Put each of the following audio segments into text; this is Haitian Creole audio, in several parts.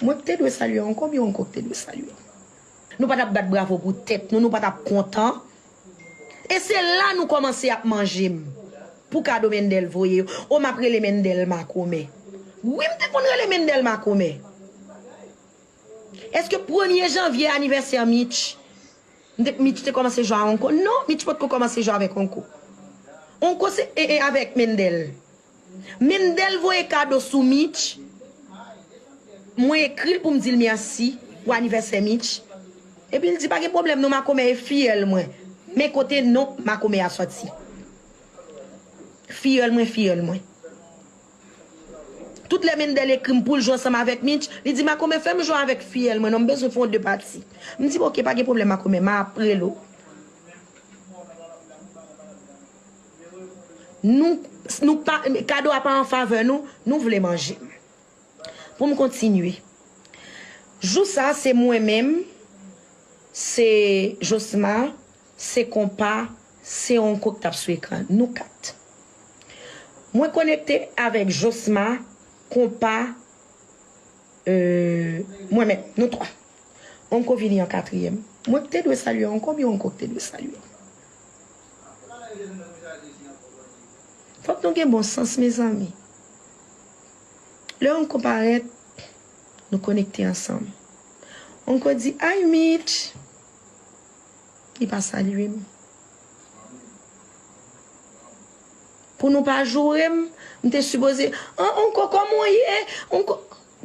Mwen ki te dwe salye an konbyen ou ankò ki te dwe salye? Nou pa t ap bat bravo pou tèt nou, nou pa t ap kontan. E se la nou kòmanse ap manje m pou kado Mendel voye yo. O m ap rele Mendel makomè. Wi m te konn rele Mendel makomè. Eske premye janvye anivèsè Mitch, Mitch te kòmanse jwe a Onko? Non, Mitch potko kòmanse jwe avèk Onko. Onko se, e e avèk Mendel. Menm del voye kado sou Mitch mwen ekril poum dil merci pou anivèsè Mitch epil di pa gen pwoblèm non makomè e filleul mwen men kote non makomè a sòti filleul mwen filleul mwen tout lè Mendel ekrim poul jwe ansanm avèk Mitch li di makomè fèm jwe avèk filleul mwen non m bezwen fon 2 pati m di ok pa gen pwoblèm makomè ma ap rele w. Nou, nou pa, kado a pa an favè nou, nou vle manje m. Pou m kontinye. Jou sa a se mwen menm, se Josma, se Konpa, se Onko k t ap sou ekran an. Nou kat. Mwen konekte avèk Josma, Konpa, mwen menm. Nou twa. Onko vini an katriyèm. Mwen k te dwe salye Onko oubyen Onko k te dwe salye m? Fòk nou gen bon sans mezanmi. Lè Onko parèt, nou konekte ansanm. Onko di Hi Mitch! Li pa salye m. Pou nou pa joure m, m te sipoze, An Onko kòman w ye? Onko.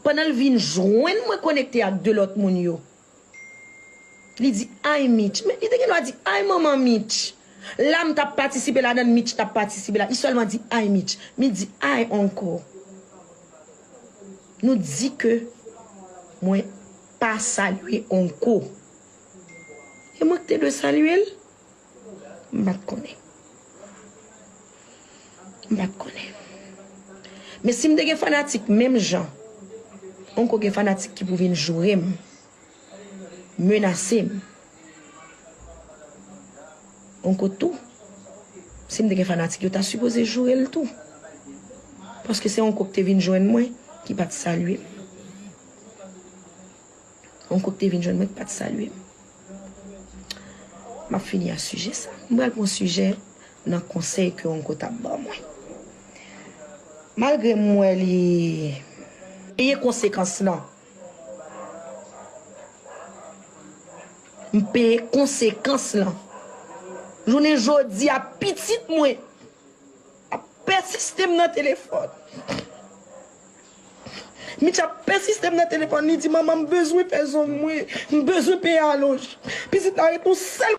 Pandan l vin jwenn mwen konekte ak 2 lòt moun yo. Li di ayy Mitch. Men li te gen dwa di ayy manman Mitch. La m t ap patisipe ladan l, Mitch t ap patisipe la. Li sèlman di ayy Mitch. Mitch di ayy uncle. Nou di ke mwen pa salye uncle. E mwen ki te dwe salye l. M pat konnen. M pat konnen. Men si m te gen fanatik menm jan, anko gen fanatik ki pou vin joure m, menase m, anko tou, si m te gen fanatik yo ta sipoze joure l tou. Paske se anko ki te vin jwenn mwen ki pat salye m. Yon koup te vin jwenn mwen ki pat salye m. Map fini a sijè sa. M pral pran sijè nan konsèy ke yon koup tap ban mwen. Malgre m wè li. Peye konsekans lan. M peye konsekans lan. Jounen jodi a pitit mwen. Ap pèsiste m nan telefòn. Mitch ap pèsiste m nan telefòn, li di, Manman, m bezwen fè zong mwen. M bezwen peye alonj. Pitit la reponn, Sèl.